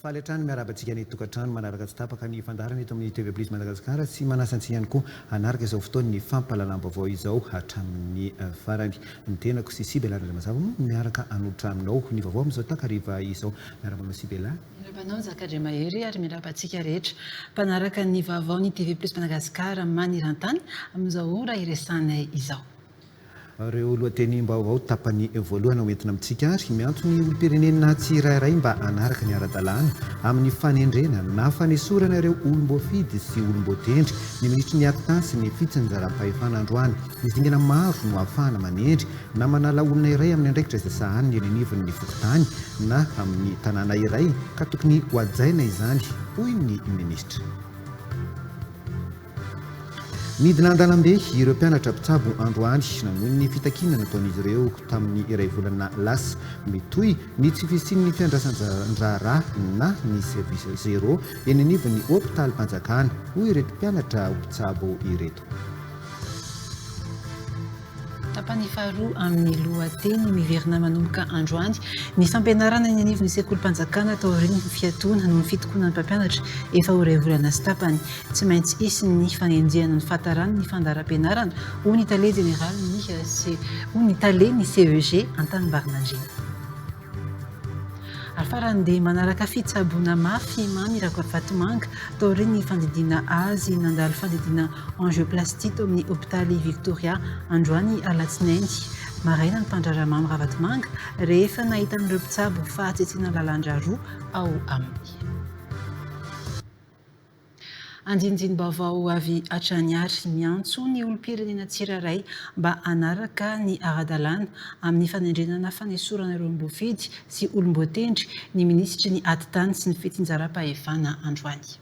Faly hatrany miarahaba antsika any an-tokantrano manaraka tsy tapaka ny fandaharana eto amin'ny TV Plus Madagascar sy manasa antsika ihany koa hanaraka izao fotoan'ny fampahalalam-baovao izao hatramin'ny farany. Ny tenako sy Sibella Randriamazava moa miaraka hanolotra aminao ny vaovao amin'izao takariva izao. Miarahaba anao Sibella. Miarahaba anao Nzaka Andriamahery ary miarahaba antsika rehetra mpanaraka ny vaovaon'ny TV Plus Madagascar maneran-tany amin'izao ora iresahanay izao. Ireo lohatenim-baovao tapany voalohany ho entina amintsika ary miantso ny olom-pirenena tsirairay mba hanaraka ny ara-dalàna amin'ny fanendrena na fanesorana ireo olom-boafidy sy olom-boatendry ny minisitry ny Habitat sy ny Fitsinjaram-pahefana androany. Ny dingana maro no ahafahana manendry na manala olona iray amin'ny andraikitra izay sahaniny eny anivon'ny fokontany na amin'ny tanàna iray ka tokony hohajaina izany, hoy ny minisitra. Nidina an-dalambe ireo mpianatra mpitsabo androany nanohy ny fitakiana nataon'izy ireo tamin'ny iray volana lasa. Mitohy ny tsy fisian'ny fiandrasan-draharaha na ny service zéro eny anivon'ny hopitalmpanjakana, hoy ireto mpianatra mpitsabo ireto. Tapany faharoa amin'ny lohateny miverina manomboka androany ny fampianarana eny anivon'ny sekolim-panjakana taorian'ny fiatoana noho ny fitokonan'ny mpampianatra efa ho iray volana sy tapany. Tsy maintsy hisy ny fanenjehana ny fahataran'ny fandaharam-pianarana, hoy ny tale jeneralin'ny hoy ny tale ny CEG Antanimbary Nandriana. Ary farany dia manaraka fitsaboana mafy i Mamy Rakotovatomanga taorian'ny fandidiana azy nandalo fandidiana angioplastie tao amin'ny hopitaly Victoria androany alatsinainy maraina ny mpandraharaha Mamy Ravatomanga rehefa nahita an'ireo mpitsabo fahatsitsiana lalandrà roa ao amin'ny Andinindini-baovao avy hatrany àry miantso ny olom-pirenena tsirairay mba hanaraka ny ara-dalàna amin'ny fanendrenana fanesorana ireo mbofidy sy olom-boatendry ny minisitry ny Atitany sy ny Fitsinjaram-pahefana androany.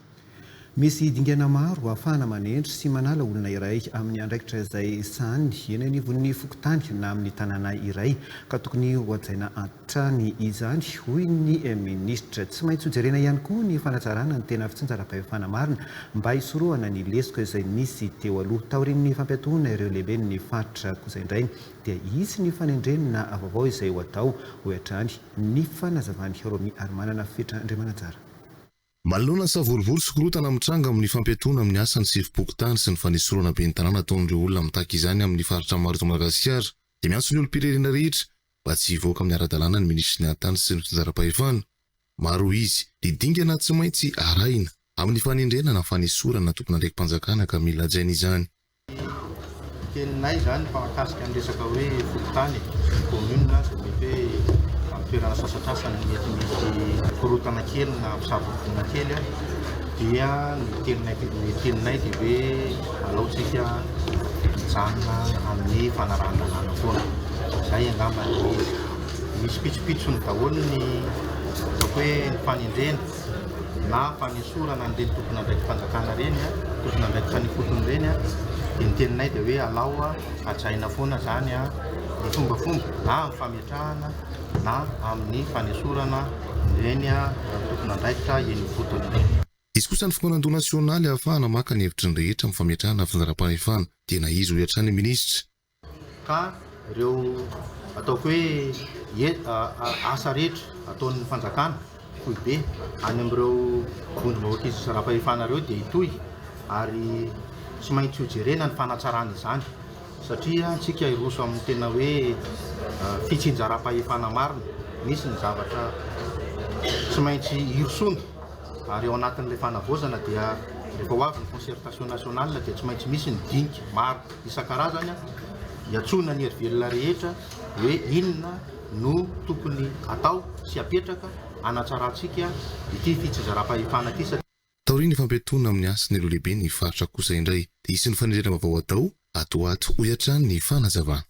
Misy dingana maro ahafahana manendry sy manala olona iray amin'ny andraikitra izay sahaniny eny anivon'ny fokontany na amin'ny tanàna iray ka tokony hohajaina hatrany izany, hoy ny minisitra. Tsy maintsy hojerena ihany koa ny fanatsarana ny tena fitsinjaram-pahefana marina mba hisorohana ny lesoka izay nisy teo aloha. Taorian'ny fampiatoana ireo lehiben'ny faritra kosa indray dia hisy ny fanendrena vaovao izay ho atao, hoy hatrany ny fanazavan'i Romiarimanana Fetra Andriamananjara. Manoloana savorovoro sy korontana mitranga amin'ny fampiatoana amin'ny asa ny sefom-pokontany sy ny fanesorana ben'ny tanàna ataon'ireo olona mitaky izany amin'ny faritra maro eto Madagasikara dia miantso ny olom-pirenena rehetra mba tsy hivoaka amin'ny ara-dalàna ny minisitry ny Hanin-tany sy ny Fitsinjaram-pahefana. Maro izy ny dingana tsy maintsy arahina amin'ny fanendrena na fanesorana tompon'andraiki-panjakana ka mila hajaina izany. Ny teninay izany fa mahakasika ny resaka hoe fokontany e, ny commune dia mety hoe amin'ny toerana sasantsasany mety misy korontana kely na mpisabo-bonina kely dia ny teninay dia hoe Aleontsika hijanona amin'ny fanarahan-dalàna foana. Izay angamba no izy. Misy pitsopitsony daholo ny ataoko hoe ny fanendrena na fanesorana an'ireny tompon'andraiki-panjakana ireny, tompon'andraikitra ny ifotony ireny. Dia ny teninay dia hoe alao hajaina foana izany ny fombafomba na amin'ny fametrahana na amin'ny fanesorana ireny tompon'andraikitra eny ifotony ireny. Izy kosa ny Fitondrana nasionaly ahafahana maka ny hevitry ny rehetra amin'ny fametrahana ny fandaharam-pahefana. Tena izy hoy hatrany ny minisitra. Ka ireo ataoko hoe asa rehetra ataon'ny fanjakana, foibe, any amin'ireo vondrom-bahoaka izy zara-pahefana ireo dia hitohy ary tsy maintsy hojerena ny fanatsarana izany satria antsika hiroso amin'ny tena hoe fitsinjaram-pahefana marina. Misy ny zavatra tsy maintsy hirosoana. Ary ao anatin'ilay fanavaozana dia rehefa ho avy ny concertation nationale dia tsy maintsy misy ny dinika maro isan-karazany hiantsoana ny hery velona rehetra hoe inona no tokony atao sy apetraka hanatsarantsika ity fitsizaram-pahefana ity satria Taorian'ny fampiatoana amin'ny asa ny Lolehiben'ny faritra kosa indray dia hisy ny fanerena vaovao atao ato ho ato, hoy hatrany ny fanazavana.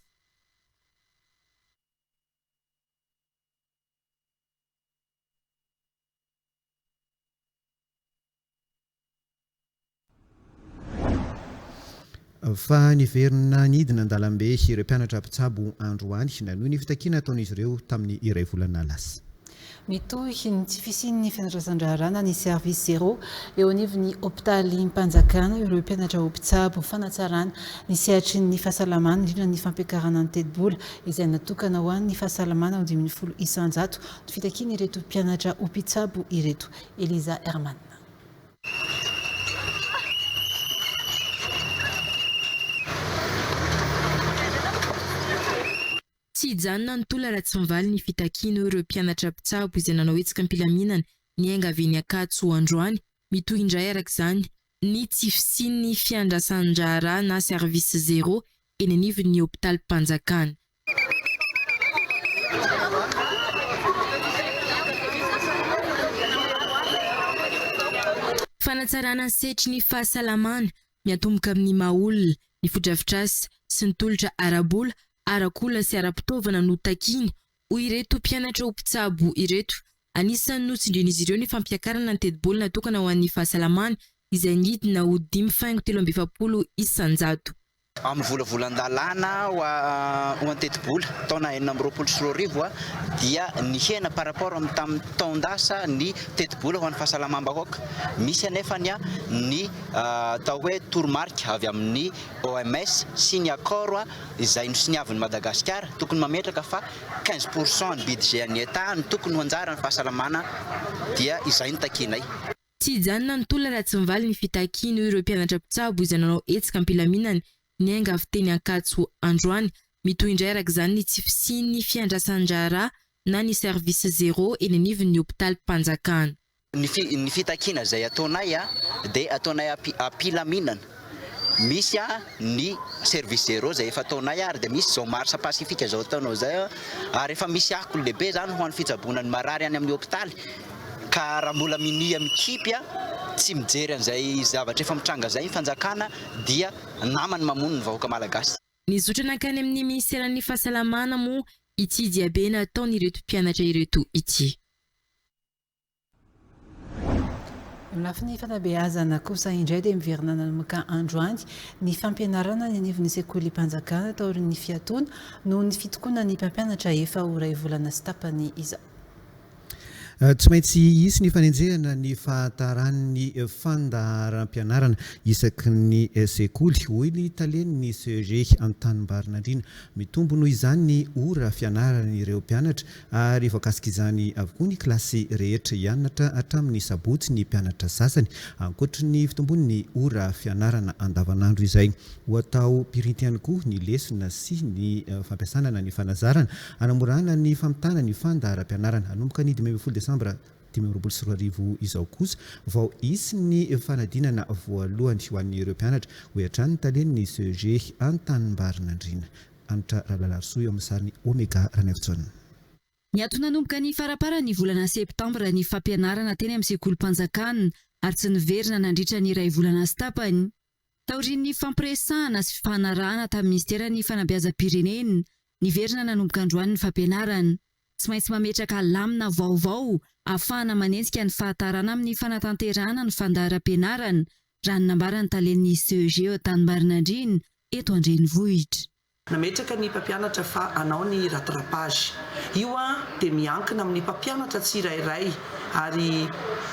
Fa niverina nidina an-dalambe ireo mpianatra mpitsabo androany nanohy ny fitakiana ataon'izy ireo tamin'ny iray volana lasa. Mitohy ny tsy fisian'ny fiandrasan-draharaha na ny service zero eo anivon'ny hopitalim-panjakana ireo mpianatra ho mpitsabo fanatsarana ny sehatry ny fahasalamana indrindra ny fampiakarana ny tetibola izay natokana ho an'ny fahasalamana ho dimy ambin'ny folo isan-jato Fitakian'ireto mpianatra ho mpitsabo ireto. Eliza Herman. Tsy hijanona ny tola raha tsy mivaly ny fitakiany, hoy ireo mpianatra mpitsabo izay nanao hetsika am-pilaminana niainga avy eny Ankatso androany. Mitohy indray araka izany ny tsy fisian'ny fiandrasan-draharaha na service zéro eny anivon'ny hopitalim-panjakana. Fanatsarana ny sehatry ny fahasalamana, miatomboka amin'ny maha olona, ny fodrafitrasa sy ny tolotra ara-bola, ara-kola sy ara-pitaovana no takiana, hoy ireto mpianatra ho mpitsabo ireto. Anisan'ny notsindrian'izy ireo ny fampiakarana ny tetibola natokana ho an'ny fahasalamana, izay nidina ho dimy faingo telo amby efapolo isan-jato. Amin'ny volavolan-dalàna ho an-tetibola taona enina amby roapolo sy roa arivo dia nihena par rapport amin'ny tamin'ny taon-dasa ny tetibola ho an'ny fahasalamam-bahoaka. Misy anefa ny atao hoe toromarika avy amin'ny OMS sy ny accord izay nosoniavin'i Madagasikara tokony mametraka fa quinze pour cent ny budget an'ny Etat no tokony ho anjaran'ny fahasalamana dia izay no takianay. Tsy hijanona ny tolona raha tsy mivaly ny fitakiany, hoy ireo mpianatra mpitsabo izay nanao hetsika am-pilaminana niainga avy teny Ankatso androany. Mitohy indray araka izany ny tsy fisian'ny fiandrasan-draharaha na ny service zéro eny anivon'ny hopitalim-panjakana. Ny fitakiana izay ataonay dia ataonay am-pilaminana. Misy ny service zero izay efa ataonay ary dia misy izao marche pacifique izao ataonao izay ary efa misy akony lehibe izany ho an'ny fitsaboana ny marary any amin'ny hopitaly ka raha mbola minia mikipy tsy mijery an'izay zavatra efa mitranga izay ny fanjakana dia namany mamono ny vahoaka malagasy. Nizotra nankany amin'ny minisiteran'ny fahasalamana moa ity diabe nataon'ireto mpianatra ireto ity. Ny lafiny fanabeazana kosa indray dia miverina nanomboka androany ny fampianarana any anivon'ny sekolim-panjakana taorian'ny fiatoana noho ny fitokonan'ny mpampianatra efa ho iray volana sy tapany izao. Tsy maintsy hisy ny fanenjehana ny fahataran'ny fandaharam-pianarana isaky ny sekoly, hoy ny talen'ny CEG Antanimbary Nandriana. Mitombo noho izany ny ora fianaran'ireo mpianatra Ary voakasik'izany avokoa ny kilasy rehetra hianatra hatramin'ny sabotsy ny mpianatra sasany, ankoatry ny fitombon'ny ora fianarana andavanandro izay. Ho atao pirinty ihany koa ny lesona sy ny fampiasana na ny fanazarana hanamorana ny famitana ny fandaharam-pianarana. Hanomboka ny dimy ambin'ny folo desambra dimy amby roapolo sy roa arivo izao kosa vao hisy ny fanadinana voalohany ho an'ireo mpianatra, hoy hatrany ny talen'ny CEG Antanimbarinandriana. Hanitra Rabelalarisoa eo amin'ny sarin'i Omega Ranaivojaona. Niato nanomboka ny faraparan'ny volana septambra ny fampianarana teny amin'ny sekolim-panjakana ary tsy niverina nandritra ny iray volana sy tapany, taorian'ny fampiresahana sy fifanarahana tamin'ny minisiteran'ny fanabeazam-pirenena. Niverina nanomboka androany ny fampianarana. Tsy maintsy mametraka lamina vaovao ahafahana manenjika ny fahatarana amin'ny fanatanterahana ny fandaharam-pianarana raha ny nambaran'ny talen'ny CEG eo Tanimbarinandriana, eto an-drenivohitra. Nametraka ny mpampianatra fa hanao ny rattrapage. Io dia miankina amin'ny mpampianatra tsirairay ary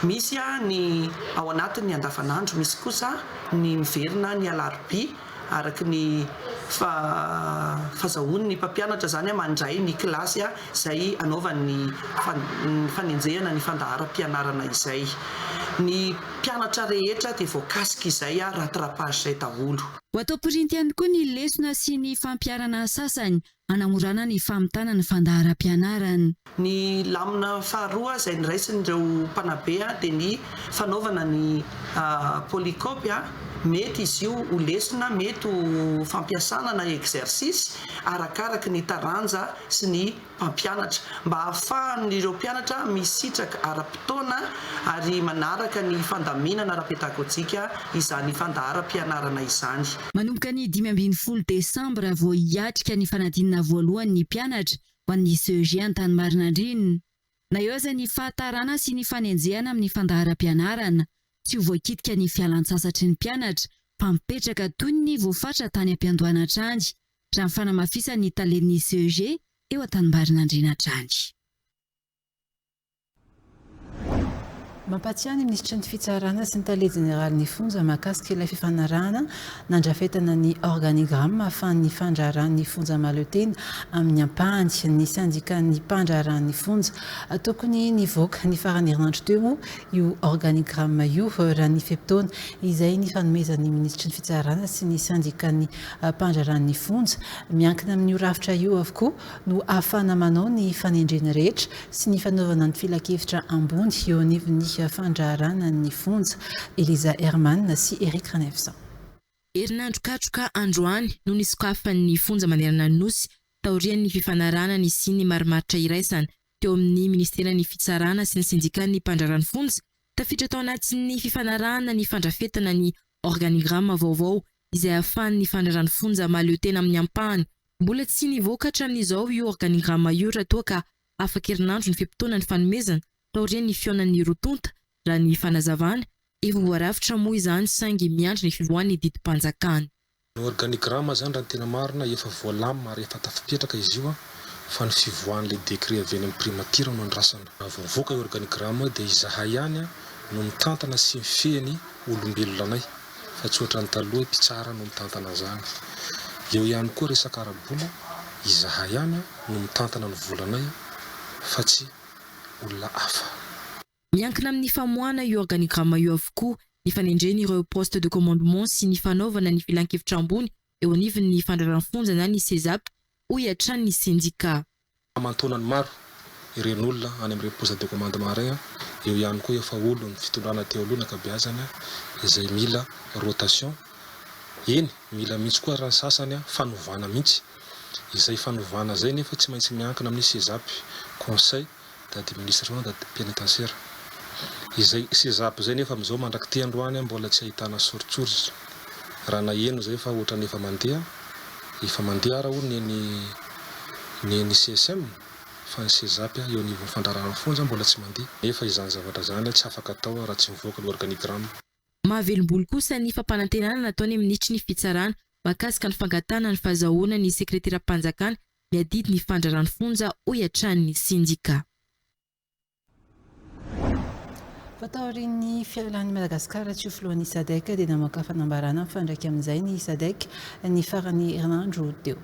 misy ny ao anatin'ny andavanandro, misy kosa ny miverina ny alarobia. araka ny fahazahoan' ny mpampianatra izany mandray ny kilasy izay anaovany ny fanenjehana ny fandaharam-pianarana izay. Ny mpianatra rehetra dia voakasika izay rattrapage izay daholo. Ho atao pirinty ihany koa ny lesona sy ny fampiharana sasany hanamorana ny famitana ny fandaharam-pianarana. Ny lamina faharoa izay niraisin'ireo mpanabe dia ny fanaovana ny polycope. Mety izy io ho lesona, mety ho fampiasana na exercice arakaraky ny taranja sy ny mpampianatra mba hahafahan'ireo mpianatra misitraka ara-potoana ary manaraka ny fandaminana ara-pedagojika izany fandaharam-pianarana izany. Manomboka ny dimy ambin'ny folo desambra vao hiatrika ny fanadinana voalohany ny mpianatra ho an'ny CEG Antanimarinan-dRinina. Na eo aza ny fahatarana sy ny fanenjehana amin'ny fandaharam-pianarana, tsy ho voakitika ny fialan-tsasatry ny mpianatra fa mipetraka toy ny voafatra tany am-piandohana hatrany, raha ny fanamafisan'ny talen'ny CEG eo Antanimarinan-dRinina hatrany. Mampahatsiahy ny minisitry ny Fitsarana sy ny tale jeneralin'ny fonja mahakasika ilay fifanarahana nandrafetana ny organigramme ahafahan'ny fandraharahan'ny fonja mahaleo tena amin'ny ampahany ny sendikan'ny mpandraharahan'ny fonja. Tokony nivoaka ny faran'ny herinandro teo moa io organigramme io raha ny fe-potoana izay nifanomezan'ny minisitry ny Fitsarana sy ny sendikan'ny mpandraharahan'ny fonja miankina amin'io rafitra io avokoa no ahafahana manao ny fanendrena rehetra sy ny fanaovana ny filankevitra ambony eo anivon'ny fandraharahana ny fonja. Eliza Herman sy Eric Ranevson. Herinandro katroka androany no nisokafan'ny fonja manerana ny Nosy taorian'ny fifanarahana nisian'ny marimaritra iraisana teo amin'ny Ministeran'ny Fitsarana sy ny Sendikan'ny Mpandraharaha ny Fonja. Tafiditra tao anatin'ny fifanarahana ny fandrafetana ny organigramme vaovao izay ahafahany ny fandraràn'ny fonja mahaleo tena amin'ny ampahany. Mbola tsy nivoaka hatramin'izao io organigrama io raha toa ka afaka herinandro ny fe-potoana nifanomezana taorian'ny fihaonan'ny roa tonta, raha ny fanazavana. Efa voarafitra moa izany saingy miandry ny fivoahan'ny didim-panjakana. Ny organigrama izany raha ny tena marina efa voalamina ary efa tafapetraka izy io fa ny fivoahan'ilay décret avy any amin'ny primature no andrasana. Raha vao mivoaka io organigrama io dia izahay ihany no mitantana sy mifehy ny olombelona anay. fa tsy ohatran'ny taloha hoe mpitsara no mitantana an'izany. Eo ihany koa resaka ara-bola, izahay ihany no mitantana ny volanay fa tsy olona hafa. Miankina amin'ny famoahana io organigramme io avokoa ny fanendrena ireo poste de commandement sy ny fanaovana ny filankevitra ambony eo anivon'ny fandraraham-fonja na ny CESAP, hoy hatrany ny sendika. Hamantoana ny maro ireny olona any amin'ireny poste de commande marin, eo ihany koa efa olon'ny fitondrana teo aloha ny ankabeazany izay mila rotation, eny mila mihitsy koa ary ny sasany fanovana mihitsy, izay fanovana izay nefa tsy maintsy miankina amin'ny CESAP, Conseil Dady Minisitra anao Dady Penitentiaire. Izay Cesap izay nefa amin'izao mandrak'ity androany mbola tsy ahitana soritsoritra. Raha naheno izay fa ohatrany efa mandeha, efa mandeha ara hono ny an'i ny an'i CSM fa ny Cesap eo anivon'ny fandraharahana fonja mbola tsy mandeha. Nefa izany zavatra izany tsy afaka atao raha tsy mivoaka ny organigramme. Mahavelombolo kosa ny fampanantenana nataon'ny Minitry ny Fitsarana mahakasika ny fangatahana ny fahazahoana ny Sekreteram-panjakana miadidy ny fandraràn'ny fonja, hoy hatrany ny sendika. Fa taorian'ny fialan'i Madagasikara tsy ho filohan'ny Sadc dia namoaka fanambaràna mifandraika amin'izay ny Sadec ny faran'ny herinandro teo.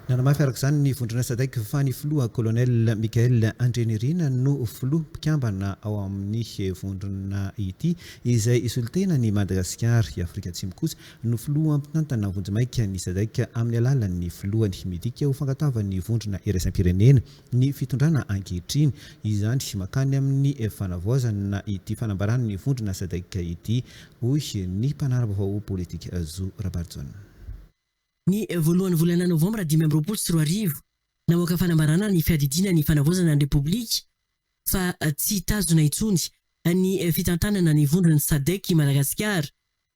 Nanamafy araka izany ny vondrona Sadec fa ny filoha Colonel Michael Andrianirina no filoha mpikambana ao amin'ny vondrona ity izay solontenan'i Madagasikara, i Afrika Atsimo kosa no filoha mpitantana vonjimaika ny Sadc amin'ny alalan'ny filohany. Midika ho fangatavan'ny vondrona iraisam-pirenena ny fitondrana ankehitriny izany mankany amin'ny fanavaozana ity fanambaran'ny vondrona Sadc ity, hoy ny mpanara-baovao politika Zo Rabarijaona. Ny voalohan'ny volana novambra dimy amby roapolo sy roa arivo, namoaka fanambarana ny Fiadidiana ny Fanavaozana ny Repoblika fa tsy tazona intsony ny fitantanana ny vondron'ny Sadc i Madagasikara.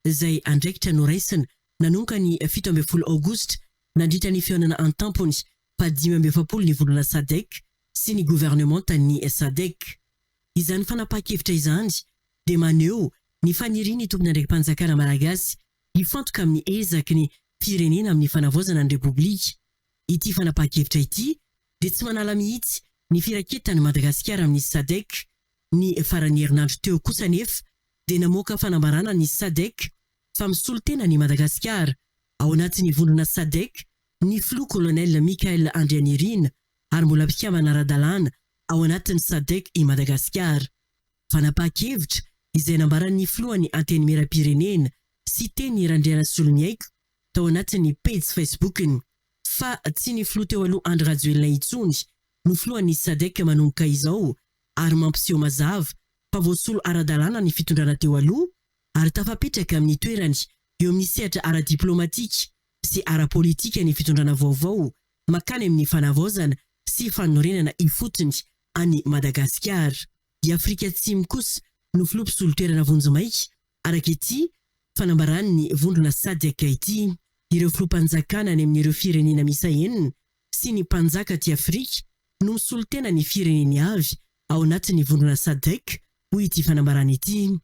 izay andraikitra noraisina nanomboka ny fito ambin'ny folo aogositra nandritra ny fihaonana an-tampony faha dimy amby efapolo ny volana Sadec sy ny governemantan'ny Sadec. Izany fanapahan-kevitra izany dia maneho ny fanirian'ny tompon'andraiki-panjakana malagasy hifantoka amin'ny ezaky ny firenena amin'ny fanavaozana ny Repoblika. Ity fanapahan-kevitra ity dia tsy manala mihitsy ny firaketan'i Madagasikara amin'ny Sadec. Ny faran'ny herinandro teo kosa anefa dia namoaka fanambarana ny Sadc fa misolo tena an'i Madagasikara ao anatin'ny vondrona Sadc ny Filoha Kolonely Michael Andrianirina ary mbola mpikambana ara-dalàna ao anatin'ny Sadc i Madagasikara. Fanapahan-kevitra izay nambaran'ny Filohan'ny Antenimierampirenena, Siteny Randrianasoloniaiko, tao anatin'ny pejy Facebook-ny, fa tsy ny Filoha teo aloha Andry Rajoelina intsony no Filohan'ny Sadc manomboka izao ary mampiseho mazava fa voasolo ara-dalàna ny fitondrana teo aloha ary tafapetraka amin'ny toerany eo amin'ny sehatra ara-diplaomatika sy ara-politika ny fitondrana vaovao makany amin'ny fanavaozana sy fanorenana ifotony an'i Madagasikara. I Afrika Atsimo kosa no filoha mpisolo toerana vonjimaika, araka ity fanambaran'ny vondrona Sadc ity. Ireo filoham-panjakana any amin'ireo firenena miisa enina sy ny mpanjaka aty Afrika no misolo tena ny fireneny avy ao anatin'ny vondrona Sadc, hoy ity fanambarana ity.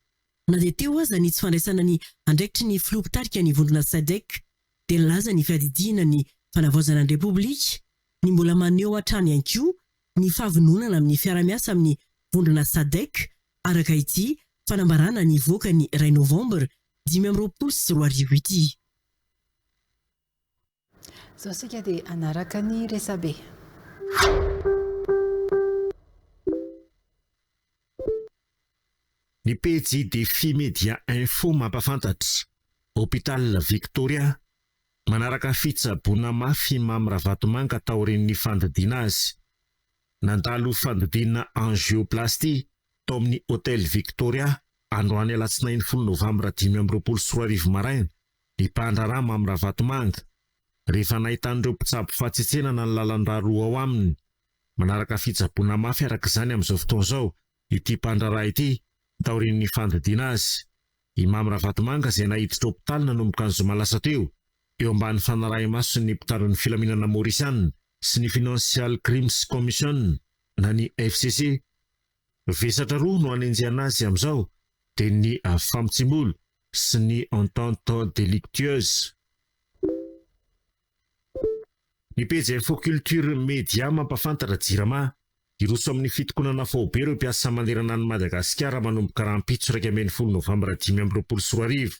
Na dia teo aza ny tsy fandraisana ny andraikitry ny filoha mpitarika ny vondrona Sadc, dia nilaza ny fiadidiana ny fanavaozana ny Repoblika ny mbola maneho hatrany ihany koa ny fahavononana amin'ny fiara-miasa amin'ny vondrona Sadc, araka ity fanambarana nivoaka ny iray Novambra dimy amby roapolo sy roa arivo ity. Izao isika dia hanaraka ny resabe. Ny pejy Défi Média Info mampahafantatra, Hôpital Victoria, manaraka fitsaboana mafy i Mamy Ravatomanga taorian'ny fandidiana azy. Nandalo fandidiana Angioplastie tao amin'ny Hôtel Victoria androany Alatsinainy folo Novambra dimy amby roapolo sy roa arivo maraina ny mpandraharaha Mamy Ravatomanga, rehefa nahita an'ireo mpitsabo fahatsetsenana ny lalan-drà roa ao aminy. Manaraka fitsaboana mafy araka izany amin'izao fotoana izao ity mpandraharaha ity, taorian'ny fandidiana azy. I Mamy Ravatomanga izay naiditra hopitaly nanomboka ny zoma lasa teo, eo ambany fanarahi-mason'ny mpitandro ny filaminana Maorisiana sy ny Financial Crimes Commission na ny FCC, Vesatra roa no anenjehana azy amin'izao dia ny Famtsimbolo sy ny Entente Delictueuse. Ny pejy Info Culture Media mampafantatra Jirama, hiroso amin'ny fitokonana faobe ireo mpiasa manerana an'i Madagasikara manomboka rahampitso iraika ambin'ny folo novambra dimy amby roapolo sy roa arivo.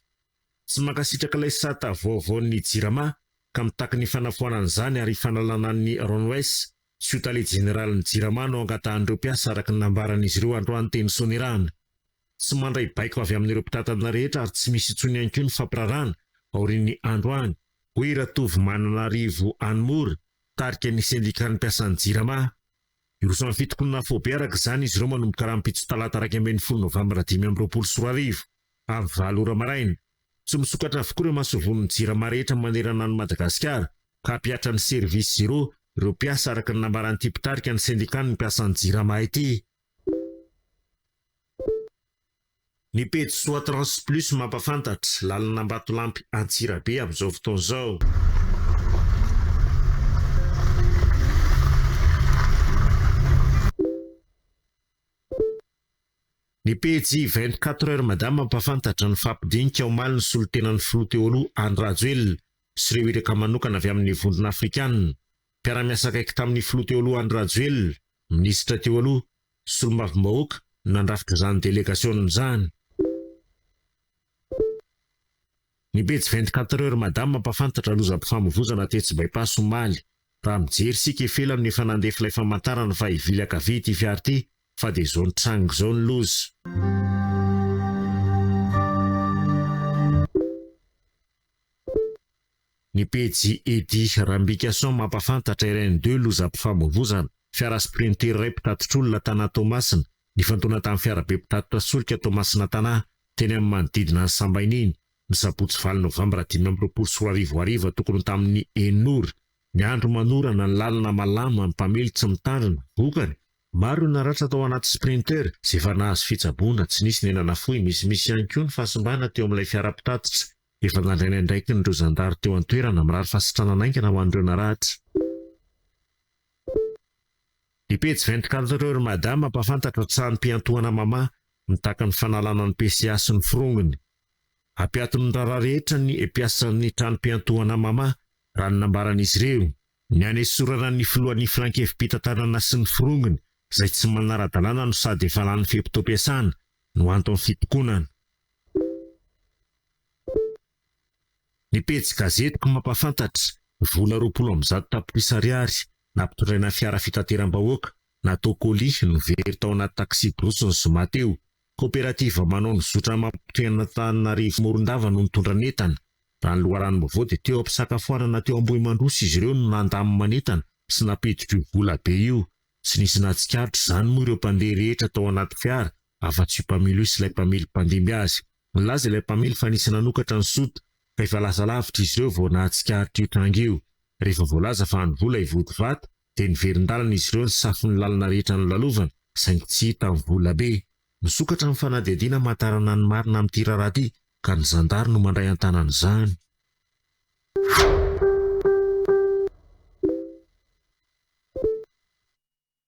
Tsy mankasitraka ilay sata vaovaon'ny Jirama ka mitaky ny fanafoanana izany ary fanalana an'i Ronwes sy ho tale jeneralin'ny Jirama no angatahan'ireo mpiasa araka ny nambaran'izy ireo androany teny Soanierana. Tsy mandray baiko avy amin'ireo mpitantana rehetra ary tsy misy intsony ihany koa ny fampirarana aorian'ny androany, hoy i Ratovomananarivo Anmore, tarika ny sendikan'ny mpiasan'ny Jirama. Hiroso amin'ny fitokonana afobe araka izany izy ireo manomboka rahampitso talata iraika ambin'ny folo novambra dimy amby roapolo sy roa arivo, amin'ny valo ora maraina. Tsy misokatra avokoa ireo masovon'ny Jirama rehetra manerana an'i Madagasikara, ka hampihatra ny Service Zero ireo mpiasa, araka ny nambaran'ity mpitarika ny sendikan'ny mpiasan'ny Jirama ity. Ny pejy Soatrans Plus mampahafantatra, lalan'Ambatolampy Antsirabe amin'izao fotoana izao. Ny pejy vingt quatre heures madame mampahafantatra ny fahampidinika omaly ny solontenan'ny filoha teo aloha Andry Rajoelina sy ireo iraka manokana avy amin'ny vondrona afrikana. Mpiara-miasa akaiky tamin'ny filoha teo aloha Andry Rajoelina, minisitra teo aloha, solombavambahoaka no nandrafitra izany delegasiona izany. Ny pejy vingt quatre heures madame mampafantatra lozam-pifamovoizana tetsy Bypass omaly. Raha mijery isika ifelany no efa nandefa ilay famantarana fa hivily ankavia ity fiara ity fa dia izao nitranga izao ny loza. Ny pejy Eddy Rambikason mampafantatra RN deux lozam-pifamovoizana, fiara sprinter iray mpitatitr'olona tana Toamasina Nifantoana tamin'ny fiarabe mpitatitra solika Toamasina Tana teny amin'ny manodidina an'i Sambaina iny, ny sabotsy valo novambra dimy amby roapolo sy roa arivo hariva tokony ho tamin'ny enina ora. Ny andro manorana, ny lalana malama, ny mpamily tsy mitandrina. Vokany, maro ireo naratra tao anaty Sprinter, izay efa nahazo fitsaboana, tsy nisy ny aina nafoy, misimisy ihany koa ny fahasimbana teo amin'ilay fiara mpitatitra. Efa nandray ny andraikiny-ireo zandary teo an-toerana, mirary fahasitranana haingana ho an'ireo naratra. Ny pejy vingt quatre heures Mada mampahafantatra tsarim-piantohana Mama mitaky ny fanalana ny PCA sy ny firongony. Hampiaton'ny raharaha rehetra ny mpiasan'ny tranom-piantohana Mama, raha ny nambaran'izy ireo. Ny hanesorana ny filohan'ny filankevi-pitantanana sy ny firongony izay tsy manara-dalàna no sady efa lany fe-potoam-piasana no anton'ny fitokonana. Ny pejy gazetiko mampahafantatra, vola roapolo amby zato tapitrisa ariary nampitondraina fiara fitateram-bahoaka natao colis no very tao anaty taxi-brousse ny zoma teo. Koperativa manao ny zotra mampitohy an'Antananarivo Morondava no nitondra ny entana. Raha ny loharanom-baovao dia teo am-pisakafoanana teo Ambohimandroso izy ireo no nandamina ny entana sy nampiditra io vola be io. Tsy nisy nahatsikaritra izany moa ireo mpandeha rehetra tao anaty fiara Afa-tsy io mpamily io sy ilay mpamily mpandimby azy. Nilaza ilay mpamily fa nisy nanokatra ny sota, ka efa lasa lavitra izy ireo vao nahatsikaritra io tranga io. Rehefa voalaza fa andro vola hivody vato, dia niverin-dalana izy ireo nisafo ny lalana rehetra nolalovana, saingy tsy hita ny vola be. Misokatra ny fanadihadiana hamantarana ny marina amin'ity raharaha ity, ka ny zandary no mandray an-tanana izany.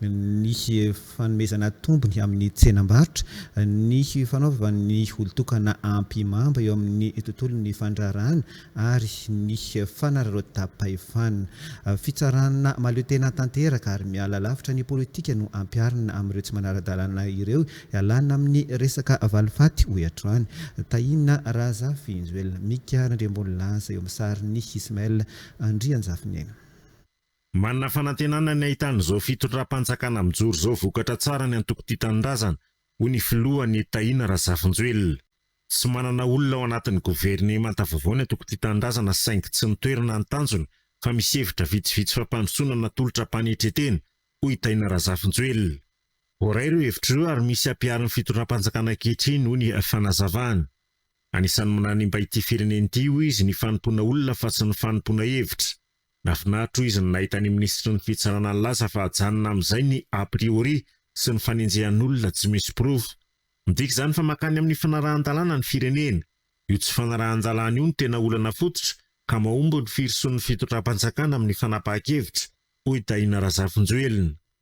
ny fanomezana tombony amin'ny tsenam-barotra, ny fanaovan'ny olon-tokana ampy mamba eo amin'ny tontolon'ny fandraharahana ary ny fanararaotam-pahefana. Fitsarana mahaleo tena tanteraka ary miala lavitra ny politika no ampiharina amin'ireo tsy manara-dalàna ireo hialana amin'ny resaka valifaty, hoy hatrany Tahiana Razafinjoelina. Mika Randriambonilaza eo amin'ny sarin'i Ismaël Andrianjafinena. Manana fanantenana ny hahitana izao fitondram-panjakana mijoro izao vokatra tsara ny antoko Tia Tanindrazana, hoy ny filoha Anie Tahina Razafinjoelina. Tsy manana olona ao anatin'ny governemanta vaovao ny antoko Tia Tanindrazana saingy tsy ny toerana no tanjona fa misy hevitra vitsivitsy fampandrosoana natolotra am-panetren-tena, hoy i Tahina Razafinjoelina. Voaray ireo hevitra ireo ary misy hampiharin'ny fitondram-panjakana ankehitriny, hoy ny fanazavany. Anisan'ny mananimba ity firenena ity, hoy izy, ny fanompoana olona fa tsy ny fanompoana hevitra. Nafinaritra hoy izy ny nahita ny minisitry ny fitsarana nilaza fa ajanona amin'izay ny a priori sy ny fanenjehan'olona tsy misy porofo. Midika izany fa mankany amin'ny fanarahan-dalàna ny firenena. Io tsy fanarahan-dalàna io no tena olana fototra ka mahomby ny firosoan'ny fitondram-panjakana amin'ny fanapahan-kevitra, hoy Tahina Razafinjoelina.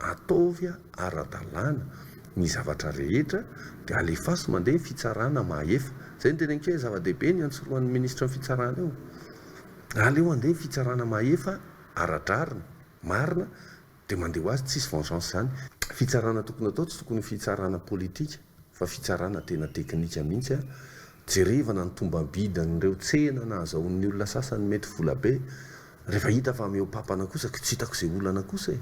Ataovy ara-dalàna ny zavatra rehetra dia alefaso mandeha ny fitsarana mahefa. Izay no tena ankia zava-dehibe ny antsorohan'ny minisitra ny fitsarana eo. Aleo andeha ny fitsarana mahefa ara-drariny, marina dia mandeha ho azy tsisy vengeance izany. Fitsarana tokony atao tsy tokony ho fitsarana politika. fa fitsarana tena teknika mihitsy a, jerevana ny tombam-bidin'ireo tsena nahazahoan'ny olona sasany mety vola be, rehefa hita fa mihoa-papana kosa ko tsy hitako izay olana kosa e!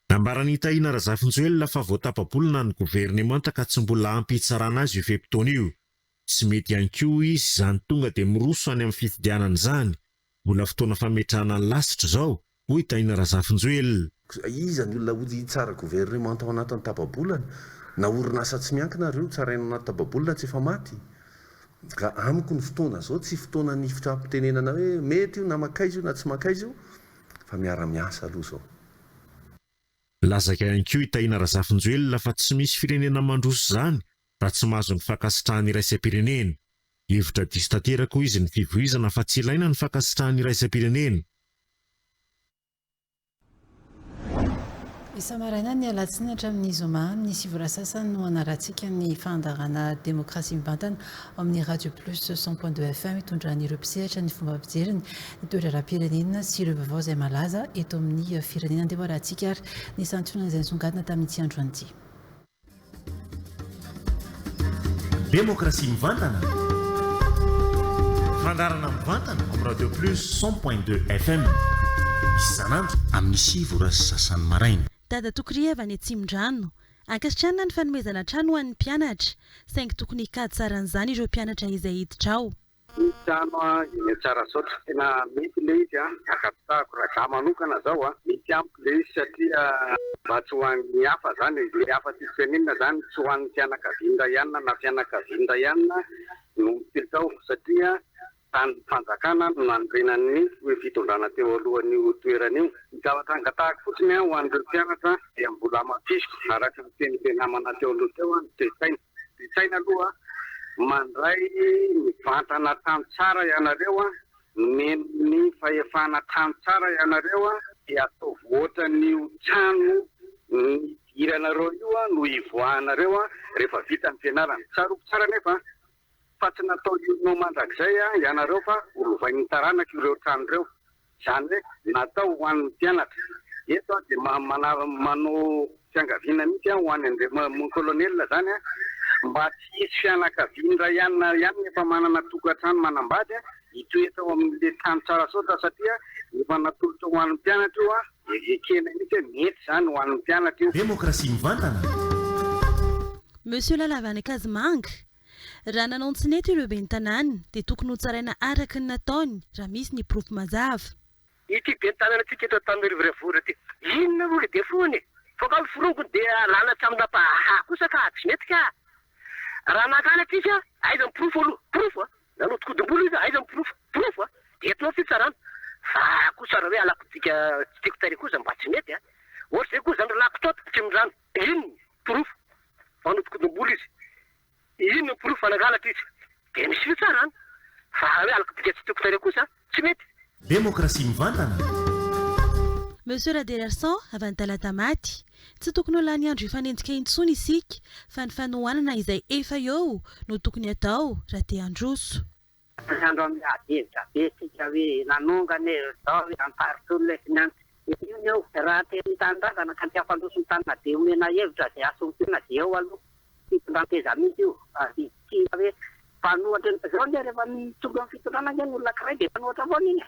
Nambaran'i Tahina Razafinjoelina fa vao tapa-bolana ny governemanta ka tsy mbola ampy hitsarana azy io fe-potoana io. Tsy mety ihany koa hoy izy izany tonga dia miroso any amin'ny fifidianana izany Mbola fotoana fametrahana ny lasitra izao, hoy i Tahina Razafinjoelina. Iza ny olona hody hitsara governemanta ao anatin'ny taba-bolana? Na orinasa tsy miankina ary io tsaraina ao anaty taba-bolana tsy efa maty? Ka amiko ny fotoana izao tsy fotoanan'ny hifitra-pitenenana hoe mety io na makaiza io na tsy makaiza io fa miara-miasa aloha izao. Lazaka ihany koa i Tahina Razafinjoelina fa tsy misy firenena mandroso izany raha tsy mahazo ny fankasitrahan'ny iraisam-pirenena. Hevitra diso tanteraka hoy izy ny fivoizana fa tsy ilaina ny fankasitrahan'ny iraisam-pirenena. Isa-maraina ny alatsinainy hatramin'ny zoma amin'ny sivy ora sasany no hanarahantsika ny fandaharana Demokrasia mivantana ao amin'ny Radio Plus cent point deux FM hitondran'ireo mpisehatra ny fomba fijeriny ny toe-draharaham-pirenena sy ireo vaovao izay malaza eto amin'ny firenena. Andeha hoarahantsika ary ny santionan'izay nisongadina tamin'ity andro an'ity. Demokrasia mivantana, fandaharana mivantana amin'ny Radio Plus cent point deux FM isan'andro amin'ny sivy ora sy sasany maraina. Dadatokiria avy any Atsimondrano. Ankasitrahana ny fanomezana trano ho an'ny mpianatra, saingy tokony hikajy saran'izany ireo mpianatra izay hiditra ao. Ny trano a eny a Tsarasaotra tena mety le izy a, ankasitrahako raha za manokana zao a, mety amiko le izy satria mba tsy ho an'ny hafa zany e, le hafa tsy tenenina zany tsy ho an'ny fianakavian'ny ray anina na fianakavian'ny ray anina no mipetra ao satria tany fanjakana no nanorenan'ny ny fitondrana teo alohan'io toerana io, ny zavatra angatahako fotsiny a ho an'ireo mpianatra dia mbola hamafisiko araka ny tenin'le namana teo aloha teo a ny toe-tsaina. Disaina aloha mandray mivantana tany tsara ianareo a, nomeny ny fahefana tany tsara ianareo a, dia ataovy ohatran'io trano nidiranareo io no hivoahanareo rehefa vita ny fianarana. Tsarovy tsara anefa fa tsy natao hirona ho mandrakizay ianareo fa ho lovain'ny taranaka ireo trano ireo. Izany hoe natao ho an'ny mpianatra. Eto aho dia manao fiangaviana mihitsy ho an'i Andriam mon colonel izany mba tsy hisy fianakaviana iray alina ihany efa manana tokantrano manambady hitoetra ao amin'ilay trano Tsarasaotra satria efa natolotra ho an'ny mpianatra io dia ekena mihitsy hoe mety izany ho an'ny mpianatra io. Demokrasia mivantana! Monsieur Lalavan'i Kazimanga, Raha nanao ny tsy nety ireo ben'ny tanàna dia tokony ho tsaraina araka ny nataony raha misy ny porofo mazava. Ity ben'ny tanànantsika eto Antananarivo Renivohitra ity inona moa ry defaut-ny e? Fa kamo forongony dia alana tsy amina bahaha kosa ka tsy mety ka! Raha mankany atsika aiza ny porofo aloha? Porofo a! Nanodikodim-bolo izy aiza ny porofo? Porofo a! Dia eto no fitsarana. Fa kosa raha hoe alakotsika tsy tiako tarehy kosa mba tsy mety a! Ohatra izay koa izany ry lahy mpitaotam-pitondrana. Inona no porofo fa nodikodin'olona izy? Inona no porofo fa nangalatra izy? Dia miseho tsara an! Fa raha hoe alok'bika tsy tiako tarehy kosa, tsy mety. Demokrasia mivantana. Monsieur Radeherson, avy any Talatamaty, tsy tokony ho lany andro hifanenjika intsony isika fa ny fanohanana izay efa eo no tokony atao raha te handroso. Ary andro amin'ny hadihevitrabe isika hoe nanonga anie izao hoe amparotro olona eto ny an. Io ny eo. Raha te ny tanindrazana ka te hampandroso ny tanina dia omena hevitra izay hasombina dia eo aloha. Fitondran-teza mihintsy io. Tsy hoe mpanohatra. Izao anie rehefa mitombo amin'ny fitondrana anie ny olona ankiray dia mpanohatra foana iny e.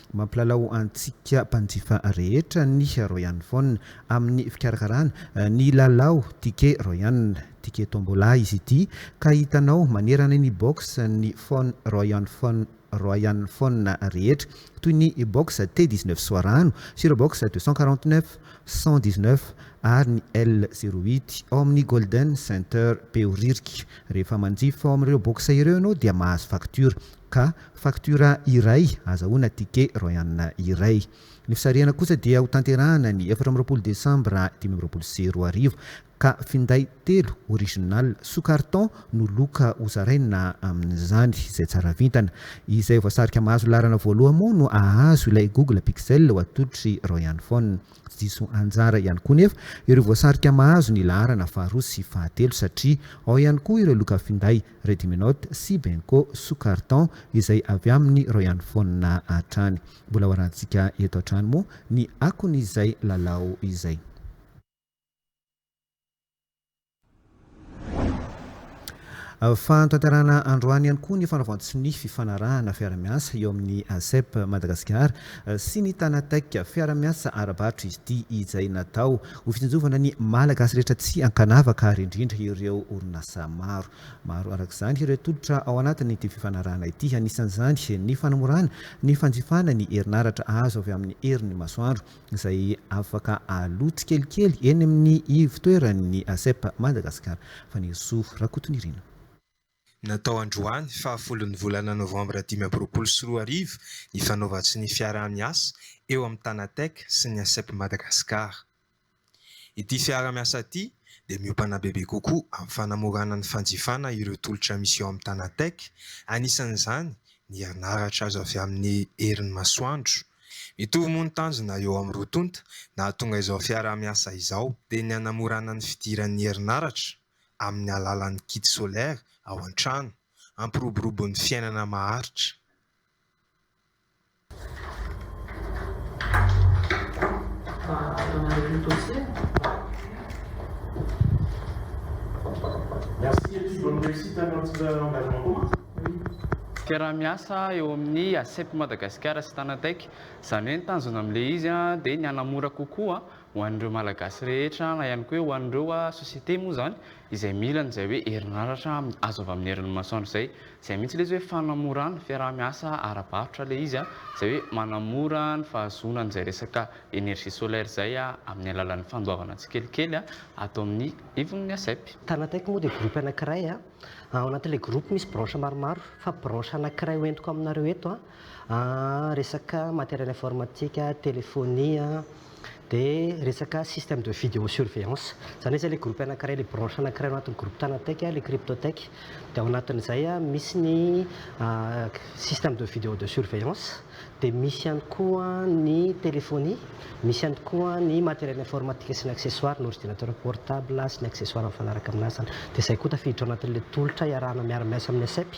Mampilalao antsika mpanjifa rehetra ny Royal Phone amin'ny fikarakarana ny lalao Ticket Royal, Ticket Tombola, izy ity ka hitanao manerana ny box ny phone Royal Phone Royal Phone rehetra toy ny box T dix neuf Soarano sy ireo box deux cent quarante neuf, cent dix neuf ary ny L zéro huit ao amin'ny Golden Center Behoririka. Rehefa manjifa ao amin'ireo box ireo ianao dia mahazo facture. Ka faktiora iray azahoana ticket royana iray. Ny fisarihana kosa dia ho tanterahana ny efatra amby roapolo desambra dimy amby roapolo sy roa arivo ka finday telo original sous carton no loka ho zaraina amin'izany izay tsara vintana. Izay voasarika mahazo laharana voaloha moa no ahazo ilay Google Pixel ho atolotry Royane Phone. Tsy diso anjara ihany koa nefa ireo voasarika mahazo ny laharana faharoa sy fahatelo satria ao ihany koa ireo loka finday Rediminote, Sibenco, Soucarton izay avy aminy reo ihany fona hatrany. Mbola ho arahantsika eto hatrany moa ny akony izay lalao izay. Fanatanterahana androany ihany koa ny fanaovan-tsy ny fifanarahana fiara-miasa eo amin'ny ASEP Madagasikara sy ny Tanatec. Fiara-miasa ara-barotra izy ity izay natao Ho fitsinjovana ny Malagasy rehetra tsy ankanavaka ary indrindra ireo orinasa maro. Maro araka izany ireo tolotra ao anatin'ity fifanarahana ity, anisan'izany ny fanamorana ny fanjifana ny herinaratra azo avy amin'ny herin'ny masoandro izay afaka aloa tsikelikely eny amin'ny ivotoeran'ny ASEP Madagascar, Fanirisoa Rakotonirina. Natao androany fahafolon'ny volana novambra dimy amby roapolo sy roa arivo ny fanaovan-tsonia fiaraha-miasa eo amin'ny Tanatech sy ny Asep Madagascar. Ity fiaraha-miasa ity dia miompana bebe kokoa amin'ny fanamorana ny fanjifana ireo tolotra misy eo amin'ny Tanatech, anisan'izany ny herinaratra azo avy amin'ny herin'ny masoandro. Mitovy moa ny tanjona eo amin'ny roa tonta nahatonga izao fiaraha-miasa izao, dia ny hanamorana ny fidiran'ny herinaratra, amin'ny alalan'ny kit solaire ao an-trano, hampiroborobo ny fiainana maharitra. Fiaraha-miasa eo amin'ny ACEP Madagasikara sy Tanatech, izany hoe ny tanjona amin'ilay izy dia ny hanamora kokoa ho an'ireo Malagasy rehetra na ihany koa hoe ho an'ireo société moa izany izay mila an'izay hoe herinaratra azo avy amin'ny herin'ny masoandro izay. Izay mihitsy ilay izy hoe fanamorana fiaraha-miasa ara-barotra ilay izy, izay hoe manamora ny fahazoana an'izay resaka énergie solaire izay amin'ny alalan'ny fandoavana tsikelikely ato amin'ny ivon'ny ASEP. Tanateiko moa dia groupe anankiray, ao anatin'ilay groupe misy branche maromaro fa branche anankiray hoentiko aminareo eto resaka matériel informatique, téléphonie, dia resaka système de vidéo surveillance. Izany hoe izay ilay groupe anankiray, ilay branche anankiray ao anatin'ny groupe Tanatech, ilay Cryptotech. Dia ao anatin'izay misy ny système de vidéo de surveillance, dia misy ihany koa ny téléphonie, misy ihany koa ny matériel informatique sy ny accessoires, ny ordinateur portable sy ny accessoires mifanaraka amin'azy izany. Dia izay koa tafiditra ao anatin'ilay tolotra iarahana miara-miasa amin'ny ACEP.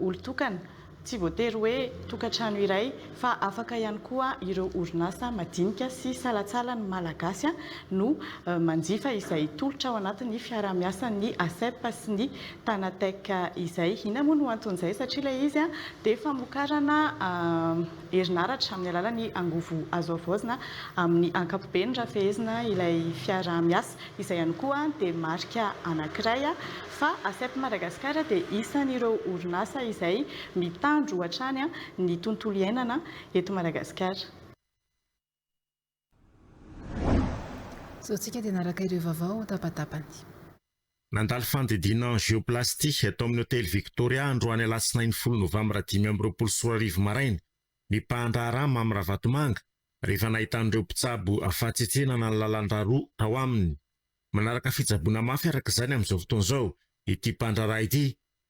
olon-tokana, tsy voatery hoe tokantrano iray fa afaka ihany koa ireo orinasa madinika sy salatsalan'ny Malagasy no manjifa izay tolotra ao anatin'ny fiaraha-miasan'ny ASEP sy ny Tanatec izay. Inona moa no anton'izay? Satria ilay izy dia famokarana herinaratra amin'ny alalan'ny angovo azo havaozina amin'ny ankapobeny raha fehezina ilay fiaraha-miasa. Izay ihany koa dia marika anankiray fa ASEP Madagascar dia isan'ireo orinasa izay mitandro hatrany ny tontolo iainana eto Madagasikara. Sao tsika dia naraka ireo vaovao ho tabatapany. Nandalo fandidiana angioplasty tao amin'ny hotely Victoria androany alatsinainy folo novambra dimy amby roapolo sy roa arivo maraina ny mpahandraharaha Mamy Ravatomanga rehefa nahitan'ireo mpitsabo fahatsetsenana ny lalandrà roa tao aminy. Manaraka fitsaboana mafy araka izany amin'izao fotoana izao ity mpandraharaha ity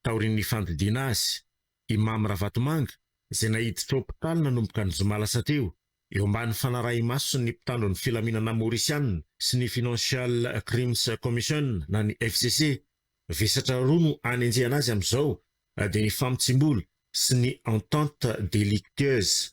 taorian'ny fandidiana azy. I Mamy Ravatomanga, izay naiditra hopitaly nanomboka ny zoma lasa teo, eo ambany fanarahi-mason'ny mpitandro ny filaminana Maorisiana sy ny Financial Crimes Commission na ny FCC. Vesatra roa no anenjehana azy amin'izao dia ny famotsiam-bola sy ny entente délictueuse.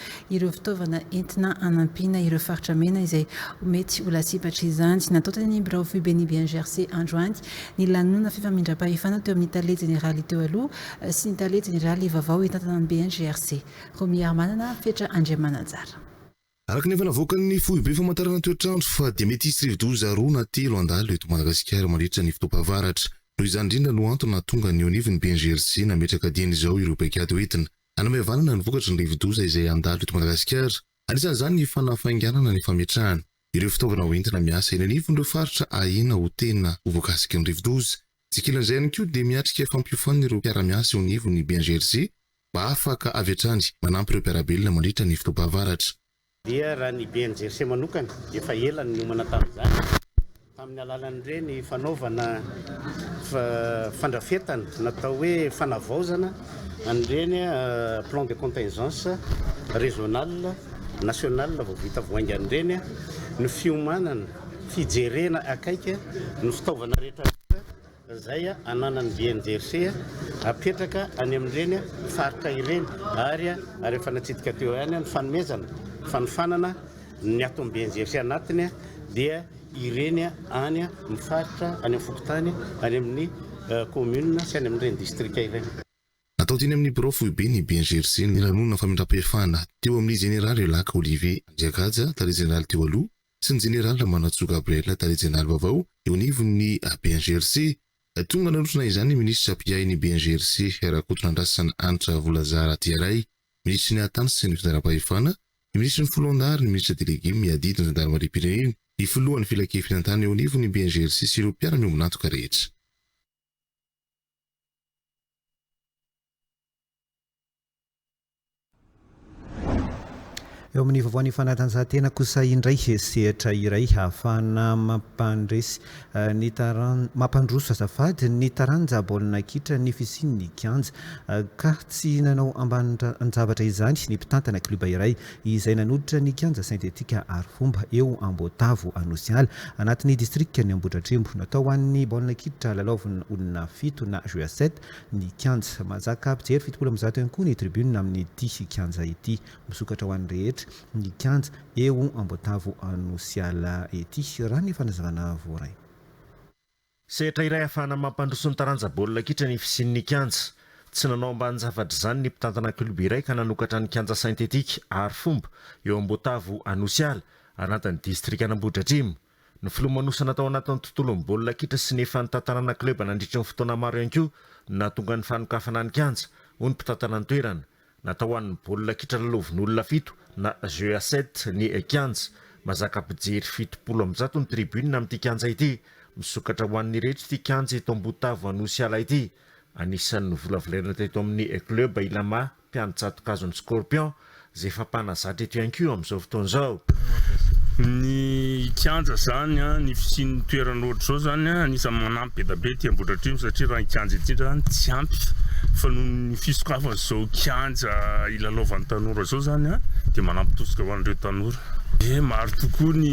ireo fitaovana entina hanampiana ireo faritra mena izay mety ho lasibatr'izany. Natao teny amin'ny birao foiben'ny BNGRC androany ny lanonana fifamindram-pahefana teo amin'ny tale jeneraly teo aloha sy ny tale jeneraly vaovao hitantana ny BNGRC, Romiarimanana Fetra Andriamananjara. Araka ny efa navoakan'ny foibe famantarana toetr'andro fa dia mety hisy rivodoza roa na telo handalo eto Madagasikara mandritra ny fotoam-pahavaratra. Noho izany indrindra no antony nahatonga ny eo anivon'ny BNGRC nametraka dieny izao ireo paikady hoentina Hanome vanana ny vokatry ny rivodoza izay handalo eto Madagasikara. Anisan'izany ny fanafainganana ny fametrahana ireo fitaovana ho entina miasa eny anivon'ireo faritra ahena ho tena ho voakasiky ny rivodoza. Tsy ankilan'izay ihany koa dia miatrika fampiofanana ireo mpiara-miasa eo anivon'ny BNGRC mba afaka avy hatrany manampy ireo mpiara-belona mandritra ny fotoam-pahavaratra. Dia raha ny BNGRC manokana, efa ela no niomana tamin'izany, tamin'ny alalan'ireny fanaovana fandrafetana natao hoe fanavaozana an'ireny plan de contingence régional, national vao vita vao haingana ireny no fiomanana, fijerena akaiky ny fitaovana rehetra vita izay ananany dia nijersey hapetraka any amin'ireny faritra ireny ary ary efa natsidika teo ihany ny fanomezana fanofanana ny ato amin'ny BNGRC anatiny dia ireny any amin'ny faritra any amin'ny fokontany any amin'ny commune sy any amin'ireny distrika ireny. Natao teny amin'ny birao foibe ny BNGRC ny lanonana famindram-pahefana teo amin'ny Jeneraly Lac Olivier Andriagaja, Tale Jeneraly teo aloha, sy ny Jeneraly Ramanantsoa Gabriel, Tale Jeneraly vaovao eo anivon'ny BNGRC. Tonga nanotrona izany ny Minisitra mpiahin'ny BNGRC, Rakotonandrasana Hanitra Volazah Ratiaray, Minisitry ny Hahatany sy ny Fitondram-pahefana, ny Minisitry ny Foloalindahy ary ny Minisitra Delege miadidy ny Zandarimariam-pirenena, ny Filohan'ny Filankevinantany eo anivon'ny BNGRC sy ireo mpiara-miombon'antoka rehetra. Eo amin'ny vaovaon'ny fanatanjahantena kosa indray sehatra iray hahafahana mampandresy eh, ny taran mampandroso azafady ny taranja baolina kitra ny fisian'ny kianja eh, ka tsy nanao ambanin-javatra izany ny mpitantana kluba iray izay nanolotra ny kianja sintetika ary fomba eo Amboatavo Anosiala anatin'ny distrika ny Ambohidratrimo natao an'ny baolina kitra lalaovin'ny olona fito na jeu à sept ny kianja. Mahazaka mpijery fitopolo amby zato ihany koa ny tribune amin'ity kianja ity. Misokatra ho an'ny rehetra ny kianja eo Amboatavo Anosiala ity, raha ny fanazavana voaray. Sehatra iray ahafahana mampandroso ny taranja baolina kitra ny fisian'ny kianja. Tsy nanao ambanin-jafatr'izany ny mpitantana kiloba iray ka nanokatra ny kianja synthetique Arifomba eo Amboatavo Anosiala, anatin'ny distrikan'Ambohidratrimo. Ny filomanosana tao anatin'ny tontolon'ny baolina kitra sy ny efa nitantanana kleba nandritry ny fotoana maro ihany koa no nahatonga ny fanokafana ny kianja, hoy ny mpitantana ny toerana. Natao ho an'ny baolina kitra lalaovin'olona fito na jeu à sept ny kianja. Mazaka mpijery fitopolo amby zato ny tribune amin'ity kianja ity. Misokatra ho an'ireto ity kianja eto Ambotavo Anosiala ity. Anisan'ny novolavolaina teto amin'ny kleba Ilama mpiandry tsato-kazon'ny scorpion izay efa mpanazatra eto ihany koa amin'izao fotoana izao. Ny kianja izany, ny fisian'ny toerana ohatr'izao izany anisan'ny manampy be dia be ety Ambohidratrimo satria raha ny kianja ety indray izany tsy ampy fa noho ny fisokafan'izao kianja hilalaovan'ny tanora izao izany dia manampy tosika ho an'ireo tanora. Dia maro tokoa ny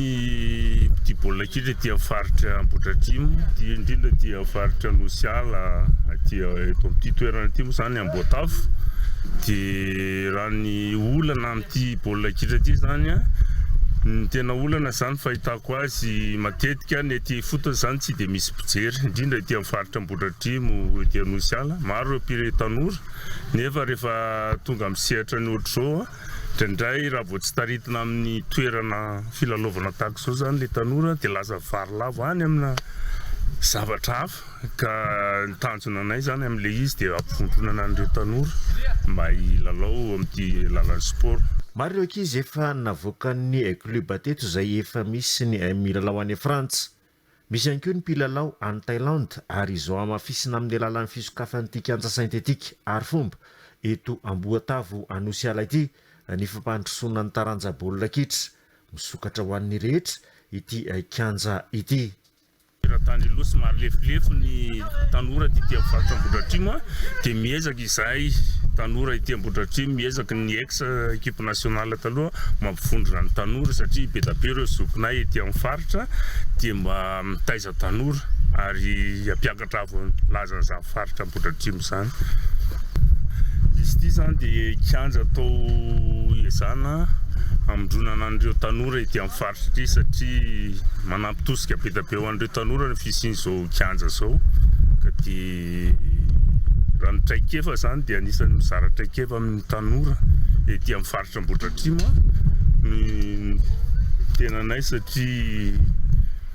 mpitia baolina kitra ety amin'ny faritra Ambohidratrimo, dia indrindra ety amin'ny faritra Anosiala, aty eto amin'ity toerana ity moa izany. Ny Amboatavo dia raha ny olana amin'ity baolina kitra ity izany an, ny tena olana izany fahitako azy matetika ny ety ifotony izany tsy dia misy mpijery, indrindra ety amin'ny faritra Ambohidratrimo ety Anosiala, maro ireo mpire tanora nefa rehefa tonga amin'ny sehatra ny ohatr'izao an, indraindray raha vao tsy taritina amin'ny toerana filalaovana tahaka izao izany ilay tanora dia lasa varilavo any amina zavatra hafa. Ka ny tanjona anay zany amin'ilay izy dia hampivondronana an'ireo tanora mba hilalao amin'ity lalan'ny sport. Maro ireo ankizy efa navoakan'ny kluba teto izay efa misy ny milalao any Frantsa. Misy ihany koa ny mpilalao any Thailand ary izao hamafisina amin'ny alalan'ny fisokafan'ity kianja sentetika Arifomba eto Amboatavo Anosiala ity ny fampandrosoana ny taranja baolina kitra. Misokatra ho an'ny rehetra ity kianja ity. Teratany aloha somary lefilefy ny tanora aty amin'ny faritra Ambohidratrimo dia miezaka izahay tanora ety Ambohidratrimo miezaka ny ex équipe nationale taloha mampivondrona ny tanora satria be dia be ireo zokinay ety amin'ny faritra dia mba mitaiza tanora ary hampiakatra avo ny lazan'izany faritra Ambohidratrimo izany. Izy ity izany dia kianja atao ezana hamindronana an'ireo tanora ety amin'ny faritra ity satria manana Tosika be dia be ho an'ireo tanora ny fisian'izao kianja izao ka dia raha ny traikefa izany dia anisan'ny mizara traikefa amin'ny tanora ety amin'ny faritra Ambohidratrimo ny tenanay satria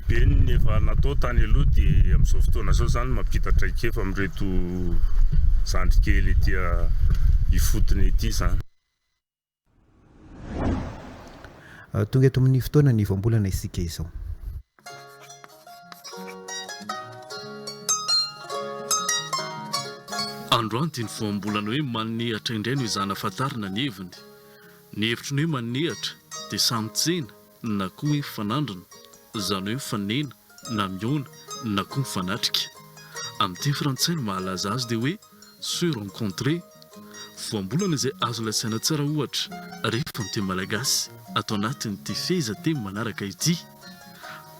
be ny efa natao tany aloha dia amin'izao fotoana izao izany mampita traikefa amin'ireto zandrikely ety ifotony ety izany. Tonga eto amin'ny fotoana ny voambolana isika izao. Androany dia ny voambolana hoe manehatra indray no ezahina fantarina ny heviny. Ny hevitry ny hoe manehatra dia samy tsena. na koa hoe fanandrina, izany hoe mifanena na mihaona na koa mifanatrika. Amin'ny teny frantsay ny mahalaza azy dia hoe se rencontrer. Voambolana izay azo lazaina tsara ohatra rehefa ny teny malagasy ato anatin'ity fehezanteny manaraka ity.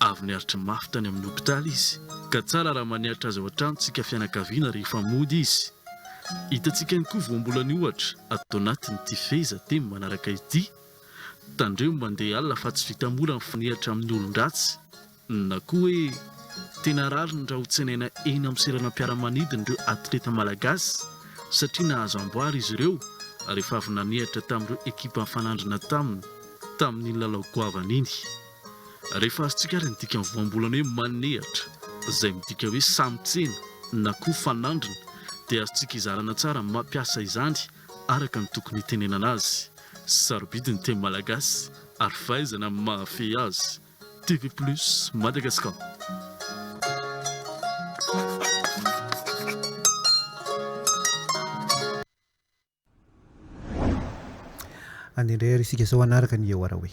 Avy niaritra mafy tany amin'ny hopitaly izy ka tsara raha maniaritra azy ao an-trano isika fianakaviana rehefa mody izy. Hitantsika ihany koa voambolany ohatra ato anatin'ity fehezanteny manaraka ity. Tandremo mandeha alina fa tsy vita mora ny fanehatra amin'ny olon-dratsy na koa hoe tena rariny raha hotsenaina eny amin'ny seranam-piaramanidina ireo atleta malagasy satria nahazo amboara izy ireo rehefa avy nanehatra tamin'ireo ekipa nifanandrina taminy tamin'iny lalao goavana iny. Rehefa azontsika ary ny dikan'ny voambolana hoe manehatra izay midika hoe samy tsena na koa fanandrina dia azontsika izarana tsara ny mampiasa izany araka ny tokony hitenenana azy, sarobidy ny teny malagasy ary fahaizana amin'ny mahafehy azy. TV Plus Madagascar. Andeha indray ary isika izao hanaraka ny Eo Araoe.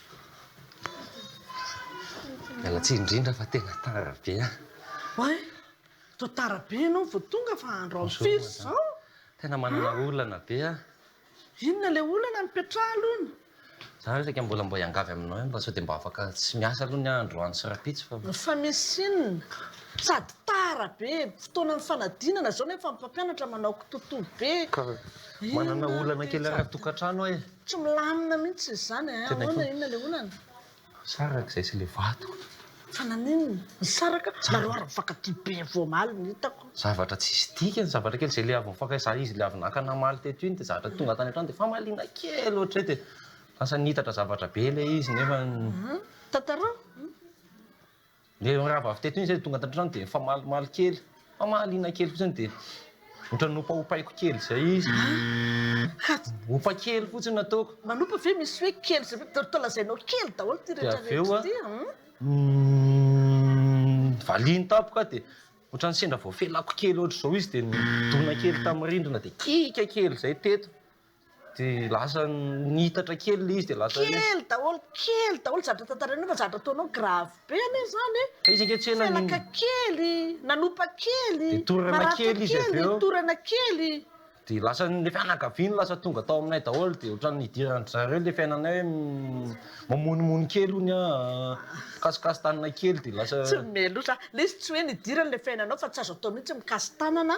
Miala tsiny indrindra fa tena tara be an! Oay! Toa tara be ianao vao tonga fa andro ampy firy izao? Tena manana olana be an! Inona ilay olana mipetraha aloha ny. Za ve saika mbola mba hiangavy aminao ihany mba sao dia mba afaka tsy miasa aloha ny ahy androany sy rahampitso fa. Fa misy inona? Sady tara be, fotoanan'ny fanadinana izao nefa ny mpampianatra manao kitotoa be. Ka manana olana kely ara-tokantrano aho e! Tsy milamina mihitsy izany eh! Ahoana inona ilay olana? Saraka izay sy ilay vato. Fa naninona? Nisaraka? Nareo ary mifankatia be vao omaly no hitako. Zavatra tsisy dikany, zavatra kely izay ilay avy nifankaiza izy ilay avy naka namaly teto iny dia zavatra tonga tany an-trano dia famaliana kely ohatr'izay dia lasa nihitatra zavatra be ilay izy nefa. Tantarao. Ilay mirava avy teto iny izay tonga ato an-trano dia nifamalimaly kely, famaliana kely fotsiny dia ohatran'ny nopaopaiko kely izay izy. Opa kely fotsiny nataoko. Manopa ve misy hoe kely izay hoe toa lazainao kely daholo ity rehetra rehetra ity an? Valiny tampoka dia ohatran'ny sendra voafelako kely ohatr'izao izy dia nidona kely tamin'ny rindrina dia kika kely izay teto. Dia lasa niitatra kely ilay izy dia lasa hoe. Kely daholo, kely daholo, zavatra tantarainao fa zavatra ataonao grave be anie izany e! Fa izy ange tsy ela. Felaka kely, nanopa kely, maratra kely, torana kely. Dia lasa ilay fianakaviany lasa tonga tao aminay daholo dia ohatran'ny hidiran-dry zareo ilay fiainanay hoe mamonomono kely hono an, mikasokasontanana kely dia lasa. Tsy mihomey loatra. Ilay izy tsy hoe nidiran'ilay fiainanao fa tsy azo atao mihitsy mikasi-tanana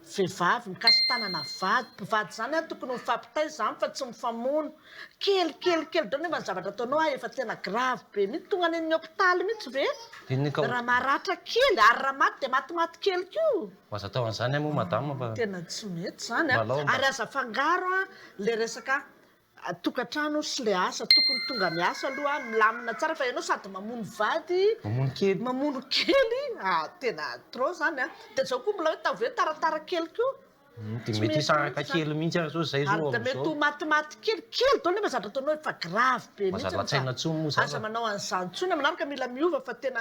Vehivavy mikasi-tanana vady, mpivady izany an, tokony ho mifampitaiza izany fa tsy mifamono. Kely kely kely daholo nefa ny zavatra ataonao an efa tena grave be mihitsy, tonga any amin'ny hopitaly mihitsy ve raha maratra kely, ary raha maty dia maty maty kely koa. Aza atao an'izany moa madame fa. Tena tsy mety izany an, ary aza afangaro an ilay resaka tokantrano sy le asa tokony tonga miasa aloha milamina tsara fa ianao sady mamono vady mamono kely mamono kely ah tena trop zany a de zao koa mbola hoe tavy hoe taratara kely koa hmm, de mety hisaraka kely mihitsy ary zao zay zao de mety ho matimaty kely kely dolo nefa zatra ataonao efa grave be mihitsy aza manao an'izany tsony manaraka mila miova fa tena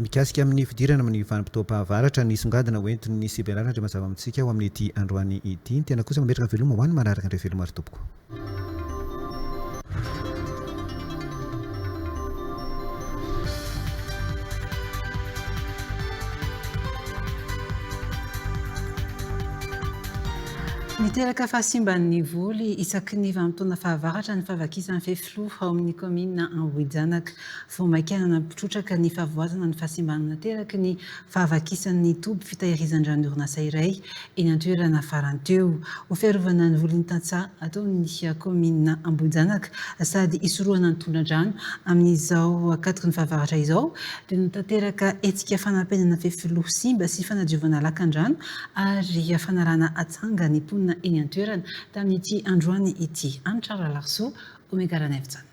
Mikasika amin'ny fidirana amin'ny vanim-potoam-pahavaratra, nisongadina ho entin'ny CBRA ny andriamazava amintsika ao amin'ity androany ity. Ny tena kosa mametraka veloma ho an'ny manaraka indray veloma ry tompoko. Miteraka fahasimban'ny voly isaky ny vanim-potoana fahavaratra ny fahavakisan'ny fefy. Kloof ao amin'ny kaominina Ambohijanaka. Vao maika nampitrotraka ny fahavoazana ny fahasimbana nateraky ny fahavakisan'ny toby fitahirizan-dranon'ny orinasa iray eny an-toerana farany teo. Ho fiarovana ny volin'ny tantsaha ataon'ny kaominina Ambohijanaka sady hisorohana ny tondra-drano amin'izao akatoky ny fahavaratra izao dia natanteraka hetsika fanampenana fefiloha simba sy fanadiovana lakan-drano ary fanalana atsanga ny mponina eny an-toerana Tamin'ity androany ity. Hanitra Ralarisoa, Omega Ranaivojanona.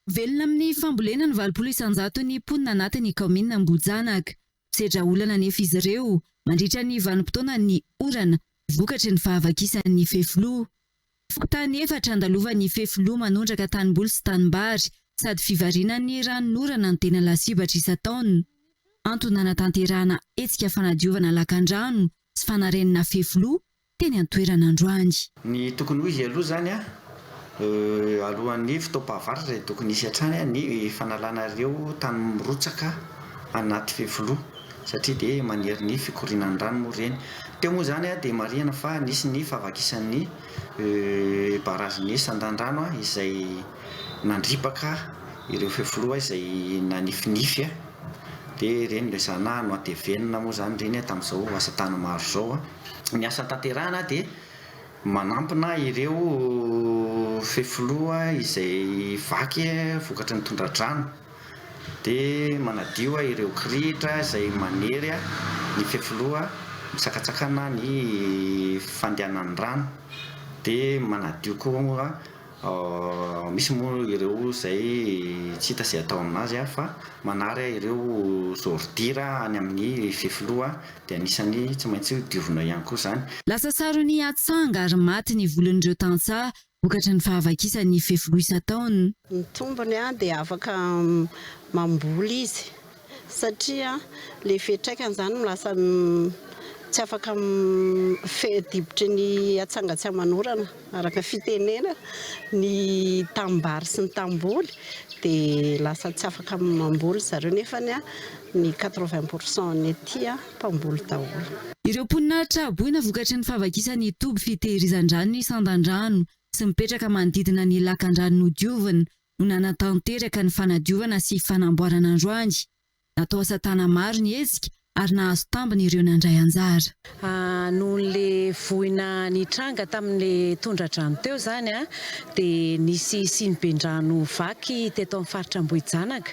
Velona amin'ny fambolena ny valopolo isan-jato ny mponina anatin'ny kaominina Ambohijanaka. Misedra olana anefa izy ireo mandritra ny vanim-potoanan'ny orana vokatry ny fahavakisan'ny fefiloha. Fokontany efatra andalovan'ny fefiloha manondraka tanimboly sy tanimbary sady fivarinan'ny ranon'orana no tena lasibatra isan-taona. Antony nanatanterahana hetsika fanadiovana lakandrano sy fanarenana fefiloha teny an-toerana androany. Ny tokony ho izy aloha izany an, alohan'ny fotoam-pahavaratra dia tokony hisy hatrany ny fanalana ireo tany mirotsaka anaty fefiloha satria dia manery ny fikorianan'ny rano moa ireny. Teo moa izany dia marihana fa nisy ny fahavakisan'ny barazin'ny sandandrano izay nandripaka ireo fefiloha izay nanifinify dia ireny no ezahina hanoatevenina moa izany ireny tamin'izao asa tany maro izao. ny asa tanterahana dia manampina ireo fefiloha izay vaky vokatry ny tondra-drano dia manadio ireo kirihitra izay manery ny fefiloha misakatsakana ny fandehanan'ny rano dia manadio koa Misy moa ireo izay tsy hita izay atao amin'azy fa manary ireo zôridira any amin'ny fefiloha dia anisan'ny tsy maintsy diovina ihany koa izany. Lasa saron'ny atsanga ary maty ny volon'ireo tantsaha vokatry ny fahavakisan'ny fefiloha isan-taona. Ny tombony dia afaka mamboly izy satria le fiatraikany zany no lasa tsy afaka midibotry ny atsanga tsy aman'orana araka fitenena ny tanimbary sy ny tanimboly de lasa tsy afaka mamboly zareo nefa ny ny quatre vingt pour cent ny aty mpamboly daholo. Ireo mponina traboina vokatry ny fahavakisan'ny toby fitehirizan-drano ny sandan-drano sy mipetraka manodidina ny lakan-drano nodiovina no nanatanteraka ny fanadiovana sy fanamboarana androany. Natao asa tana maro ny hetsika ary nahazo tambiny ireo nandray anjara. Nohon'le voina nitranga tamin'le tondradrano teo zany dia nisy siniben-drano vaky teto amin'ny faritra Ambohijanaka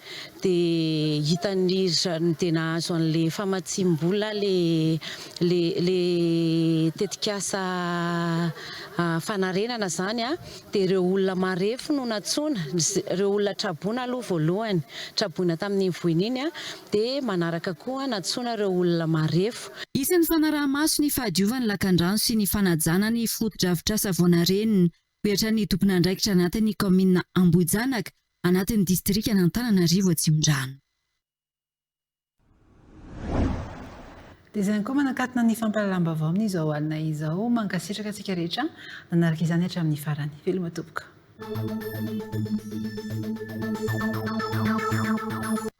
dia hitan'ny ry zariny dia nahazo an'ilay famatsiam-bola ilay tetikasa fanarenana izany dia ireo olona marefo no nantsoina, ireo olona traboina aloha voalohany, traboina tamin'iny voina iny dia manaraka koa nantsoina ireo olona marefo. Hisy ny fanaraha-maso ny fahadiovan'ny lakandrano sy ny fanajana ny fotodrafitrasa vao narenina. Mihoatra ny tompon'andraikitra anatin'ny kaominina Ambohijanaka, Anatin'ny distrikan'Antananarivo Atsimondrano. Dia izay ihany koa manakatona ny fampahalalam-baovao amin'izao alina izao. Mankasitraka antsika rehetra nanaraka izany hatramin'ny farany. Veloma tompoko.